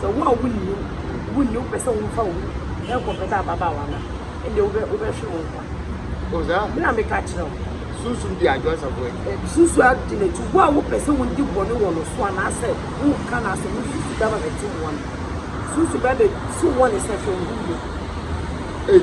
Sɛ wo a wunni wo wunni wopɛ sɛ wofa obi kɔpɛtɛ ababaawa no a, ɛnde wobɛ wobɛhwe wo nkwa. O saa. Me na meka kyerɛ wo. Sunsum di adwo asafo akyi. Sunsum adi n'akyi. Wo a wopɛ sɛ wodi bɔne wɔ no so anaasɛ woka n'asɛm no, sunsum bɛba bɛtew wɔn. Sunsum bɛba bɛtew wɔn sɛ, Hwɛ, ohu wo. Ei!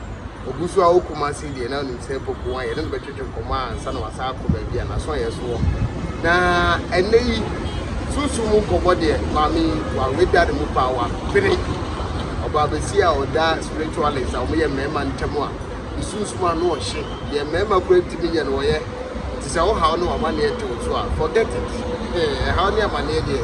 Ogu so ara wɔ Kumasi deɛ, na onim sɛ Poku wɔ ha, yɛne no bɛtwetwe nkɔmmɔ ansa na wasan akɔ baabi a n'asoɔyɛ so wɔ. Na ɛnnɛ yi, sunsum mu nkɔmmɔ deɛ, maame yi, waweda ne mu paa, wapere. Ɔbaabɛsi a ɔda spiritualist a wɔyɛ mmarima ntam a, ne sunsum ano ɔhye, deɛ mmarima koraa ntumi nyɛ no ɔyɛ. Nti sɛ wohaw ne w'amanneɛ tew so a, forget it. Ɛhaw ne amanneɛ deɛ,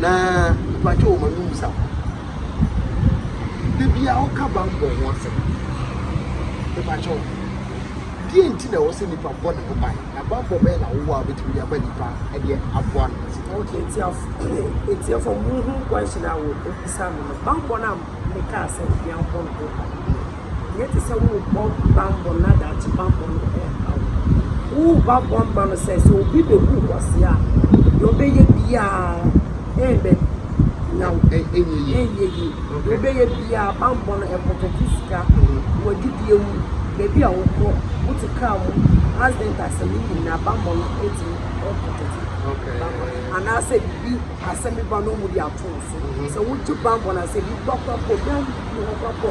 Na mpakyɛw ma no mmusa kɔ. Da biara woka bammɔ ho asɛm a, mepakyɛw, deɛn nti na ɛwɔ sɛ nipa bɔ ne ho ban, na bammɔ bɛn na wowɔ a wobɛtumi de aba nipa de aboa no ma sika? Okay, atiefo, monhu question a wɔbisa me no, bammɔ no a mekaa sɛ yɛnbɔ no ho ban no. Nyɛ te sɛ worebɔ bammɔ na daakye bammɔ no reha wo. Woreba bɔ mma no sɛ sɛ obi bebu wo ase a, deɛ ɔbɛyɛ biara ɛnbɛ na ɛnyɛ yie. Ɛnyɛ yie. Deɛ ɔbɛyɛ biara bammɔ no ɛpɔkɛte sika, w'adidie mu, baabi a wokɔ, wote kaa mu, accident asɛm ne nyinaa bammɔ no ɛtumi ɛpɔkɛte. Anaasɛ biribi asɛm bi ba na ɔmode ato wo so. Sɛ wogye bammɔ no a sɛ biribi ba koraa mpo obiara nni hɔ koraa mpo.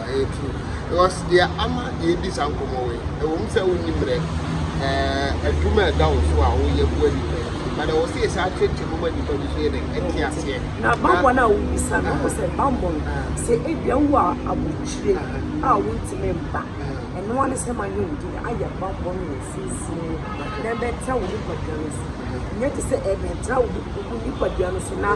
Ɛyɛ true because deɛ ama yɛredi saa nkɔmmɔ wei ɛwɔ mu sɛ wonni mmerɛ eh, adwuma a ɛda wo so a woyɛ boa nnipa yi but ɛwɔ sɛ yɛsɛ akyerɛkyerɛ mu ma nnipa bi so yɛ dɛn ɛte aseɛ na bammɔ no a wobisa no wɔ sɛ bammɔ no sɛ ebia wo a abokyire a wontumi mba ɛnoa ne sɛ ma ne wodi no ayɛ bammɔ no wɔ sunsun mu na ɛbɛtra wo nipadua no so ɛnyɛ te sɛ ɛbɛtra wo nipadua no so na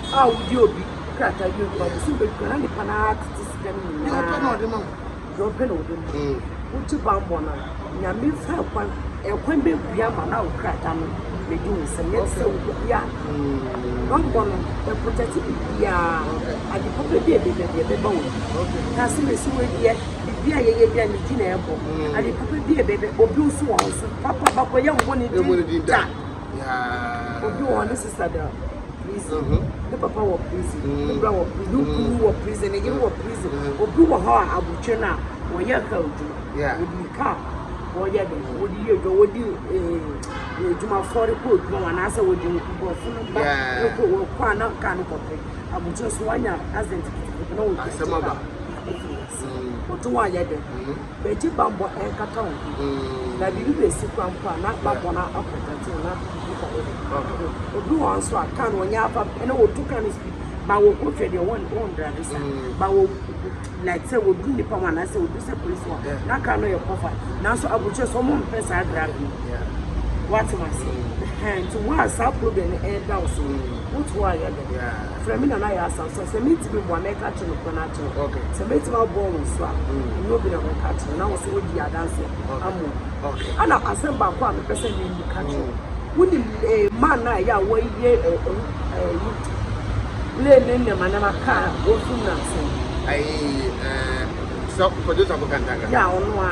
a wodi obi krataa bi nto abosom bɛ dwuma na nipa no ara tete sika no nyinaa deɛ ɔpɛ na ɔde ma deɛ ɔpɛ na ɔde ma mm. wotu bammɔ no nyame fa ɛkwan ɛkwan bɛ bi ama na wo krataa no bɛdi wo nsɛm yɛ sɛ wobia mm. bammɔ no ɛprotɛte biribiaa adepa bɛ bi a ɛbɛba bi ɛbɛba wɔ bi na sɛ mɛsi wɔ adiɛ biribi a yɛyɛ bi a ne di na ɛbɔ mm. adepa bɛ bi a ɛbɛbɛ obi nso wɔ ho so papa bakɔyɛ mbɔ ne din da Yeah. Obi wɔ hɔ ne sista da prison. Uh-huh. Ne papa wɔ prison. Mm. Ne bra wɔ prison. Ne kunu wɔ prison. Ne yere wɔ mm. prison. Mm. Obi wɔ hɔ a abotire no a wɔyɛ ka adwuma. Yeah. Obi ka wɔyɛ de wɔde yɛ adwuma wɔde eh, adwumafoɔ de kɔ adwuma wɔn anaasɛ wɔde nkurɔfo no ba ne kɔ wɔn kɔ a na kaa no kɔpɛ abotire so wɔanya accident na wɔtwa asɛm aba wɔto wɔn ayɛ de. Begye bammɔ nkata wo ho, na biribi besi koraa mpo a, na bammɔ no akɔ pɔtee na nnipa no de. Obi wɔ hɔ nso a, kaa no ɔnyɛ afa pɛ na wɔtu kaa no speed ma wɔkɔ hwɛ deɛ wɔndrave sa ma wɔ like sɛ wɔduru nnipa ho anaasɛ wɔduru sɛ polisi hɔ na kaa no yɛ kɔfa nanso abukyerɛ sɛ ɔmo mpɛ saa drave no woate mo ase nti wo a saa problem no ɛda wo so wotoɔ ayɛ dɛ frɛ me nana yɛ asa so sɛ metumi boa mɛka akyerɛ no kwan akyerɛ wo okay sɛ mɛtumi aboa wo nso a mm. nyɛ obi na mɛka akyerɛ na wo so wodi adanseɛ ama obi okay ana asɛm baako a mepɛ sɛ meyi ka kyerɛ mm. wonim eh, ma no a ɛyɛ a wɔyɛ eh, eh, yi lee ne nnɛmanɛma kaa wɔsum no asɛm sɛ producer bokantaka yɛ ɔno a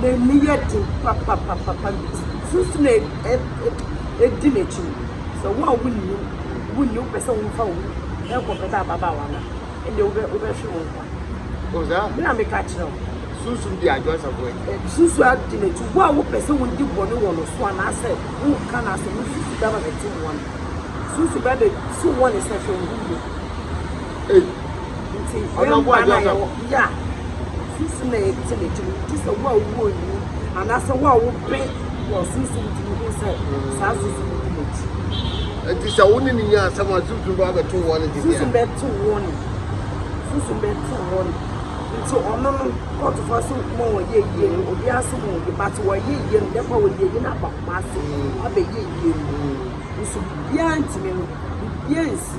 N'ani yɛ den papapapapa. Sunsum a edi n'ekyir no, sɛ wo a wunnyim, wunyi wo pɛ sɛ womfa wo ho kɔ bɛda ababaawa no a, ndeɛ wobɛ wobɛhwe wo nkwa. Ɔwɔ saa? Me na meka kyerɛ wo. Sunsum di adwo asafo akyi. Eh, sunsum adi n'akyi. Wo a wopɛ sɛ wondi bɔne wɔ no so anaasɛ woka no asɛm, wosusu bɛba bɛte wɔn. Sunsum bɛbɛ so wɔn sɛ hwɛ wo ho yie. Ei. Nti yɛn mma na yɛwɔ ya susu na yɛde kyɛ n'akyi no ti sɛ wo a wowɔ nyi anaasɛ wo a wopɛ wɔ susu nti no hu sɛ saa susu no di n'akyi. Nti sɛ wo ne ne nya asɛm a susu ba bɛto wɔ ne dedeɛ. Susu bɛto wɔ ne susu bɛto wɔ ne nti ɔno no kɔɔtofo ase okuma wɔyɛ yie no obi ase mu obi ba te wɔyɛ yie no dɛfɔ wɔ yie no aba kuma ase abɛyɛ yie no nso biara ntumi no biara nsi.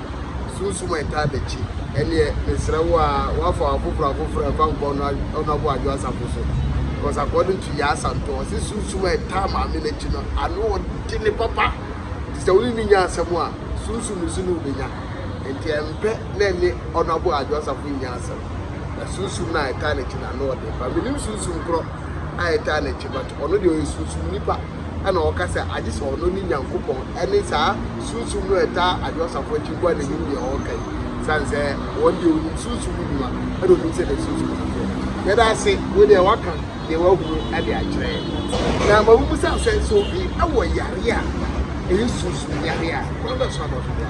sunsum a ɛtaa ba akyi. Ɛnneɛ, mesrɛ wo ara, woafa wɔn afoforɔ afoforɔ a ɛfa nkwa no ɔno aboa adwo asafo so. Because according to Yaa Santo, ɔse sunsum a ɛtaa maame no akyi no, ano ɔdene papa. Nti sɛ wo ne no nya asɛm a, sunsum no so ne wobɛnya. Nti ɛmpɛ na ɛne ɔno aboa adwo asafo nnya asɛm. Na sunsum no a ɛtaa n'akyi no, ano ɔdene paa. Menim sunsum korɔ a ɛtaa n'akyi, but ɔno deɛ ɔyɛ sunsum nipa. ɛna ɔka sɛ agye sɛ ɔno ne Nyankopɔn ɛne saa sunsum no a ɛtaa adwo asafo akyi nkoa na ɛnim deɛ ɔɔka yi sane sɛ wɔn deɛ ɔnim sunsum mu nnwuma ɛna ɔnim sɛ deɛ sunsum no teɛ yɛda ase wo deɛ waka deɛ wahunu ɛde akyerɛ na ma wobu sa sɛ so ɛwɔ yare a ɛyɛ sunsum yare a wɔn bɛ so abɔfra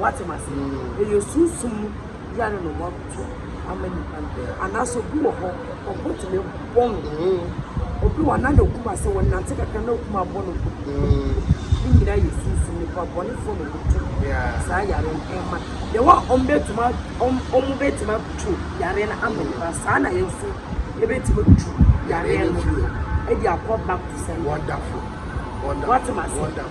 Woatse me ase? Eyɛ sunsum yar na wɔato ama nyimpa no, anaasɛ obi wɔ hɔ ɔbɔtum ebɔ no ho? Obi wɔ hɔ a nna no kum asɛw, ɔnantse kakra na okum abɔ no ho. Ne nyina yɛ sunsum, nyimpa bɔnefo na wɔto saa yar no ma no. Dɛ hɔ a obotum a obotum ato yar no ama nyimpa no, saa na hɛn so yebotum etu yar no dze akɔ back to sender. Woatse me ase?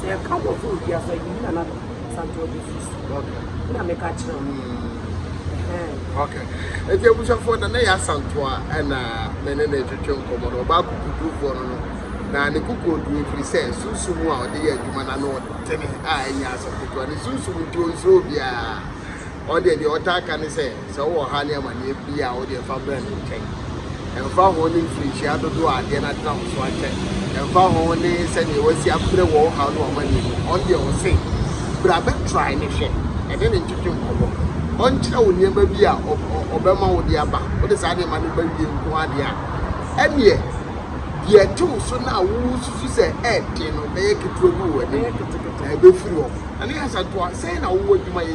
Sɛ yɛka nkurɔfo wɔ dua so a, yɛyi Nana Addo Asante Ɔgye firi so. Wo na meka kyerɛ wo. Okay. Nti abusuafoɔ na na yɛ asanto a ɛna me ne ne twetwe nkɔmmɔ no ɔbaa kukudurufoɔ no no na ne kukuo duro firi sɛ sunsum a ɔde yɛ adwuma na no ɔtene a ɛnyɛ asɛm ketewa ne sunsum nti ɔnsuro obiara ɔdeɛ deɛ ɔtaa ka ne sɛ Sɛ wowɔ ɔhaw ne amanneɛ bi a, wo deɛ fa brɛ ne nkyɛn. Ɛmfa ho ne mfirinhyia dodoɔ a adeɛ no atena wo so akyɛ, ɛmfa ho ne sɛdeɛ wasi abrɛ wɔ wo haw ne w'amanneɛ mu, ɔno deɛ ɔse, Bra bɛtrae no hwɛ, ɛne no ntwetwe nkɔmmɔ. Ɔnkyerɛ wo nneɛma bi a ɔbɛma wode aba. Wode saa nneɛma no ba wie nko ara deɛ a, ɛnneɛ deɛ ɛte wo so no a wosusu sɛ ɛyɛ den no bɛyɛ ketewa bi wɔ w'anim. Ɛbɛfiri hɔ. Ɛno yɛ asɛntoa. Sɛn na wowɔ adwuma yɛ?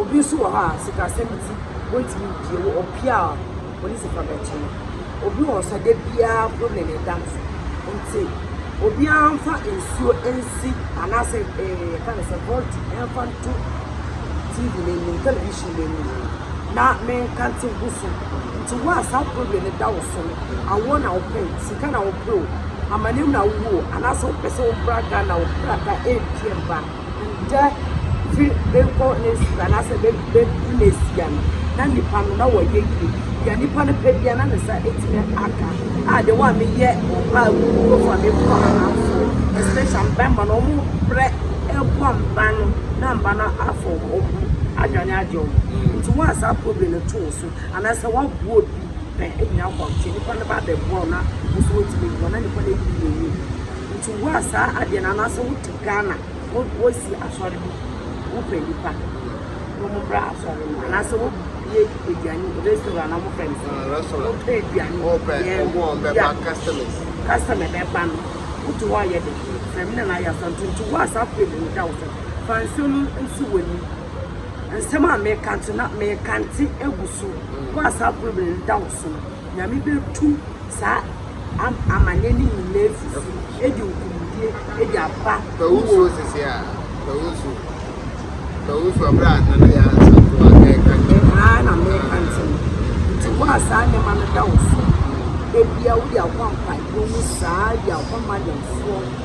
Obi nso wɔ hɔ a sikasɛm nti wontumi mpue wɔ ɔpue a polisi fa bɛto no. Obi wɔ hɔ nso a da biara problem ne da no so nti obiara mfa nsuo nsi anaasɛ eh yɛka no sɛ volti mfa nto TV no anim television no anim na menkante ngu so. Nti wo a saa problem no da wo so no awoɔ na wopɛ sika na wopɛ o amanneɛm na wowɔ o anaasɛ wopɛ sɛ wommra Ghana wo krataa ɛmpue mma. nda dze bkɔ n'esi do anaa sɛ be bebu n'esia no, na nyimpa no na wɔyɛ yie. Dza nyimpa no pɛ bia na ne nsa etumi aka. A dɛm a meyɛ ɔbaa kokrofo a meboa amamfo especially mbarimba no wɔn brɛ boa mba no na mba no afa wɔn ho adwane agye wɔn. Ntsi wo a saa problem no to wo so anaa sɛ wɔaboa obi pɛ hia kɔnkye, nyimpa no bɛabɛboa wo na wo so woetum eboa na nyimpa no eyi no yie. Ntsi wo a saa adeɛ no anaa sɛ wo . Ghana wo wosi asɔre bi wo pɛ nipa na ɔmo mbra asɔre no anaasɛ wo bie aduane restaurant na ɔmo fɛ no sɛ restaurant wo pɛ aduane wo pɛ ɔmo ɔmo bɛba customers customer bɛba no wo to hɔ ayɛ de fɛm na na ayɛ asɔre nti nti wo asa pɛ mu da wo sɛ fa nsuo no nsi w'ani nsɛm a meka nti na meka nti egu so wo asa pɛ mu da wo so Nyame bɛtu saa amane no nyina afifi, ɛde nkunimdie ɛde aba. Pawusuo sese a, pawusuo, pawusuo abira nana yɛ asanfo a ɛka nti. Ɛhaa na mɛka nti no, nti wo a saa nneɛma no da wo so, ɛbia wo de akɔ ampaebɔ mu saa de akɔ madamfoɔ.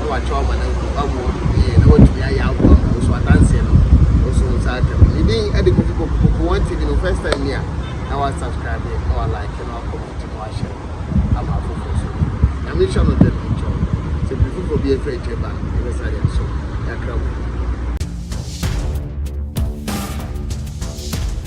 na wakyɛw ama no awu, awo ɔno yiye, na watumi ayɛ awo ama wo. So adanse no nso wo nsa aka bi? Ne din de Kofi Poku. Poku One TV no first time ni a, na wa subscribe, na wa like, na wa comment, na wa share ama afoforo nso bi. Nyame nhyɛ no den nkyɛ wo. Sɛ biribi foforo bi afi akyire ba a, yɛbɛsa de asom. Yɛakra mu.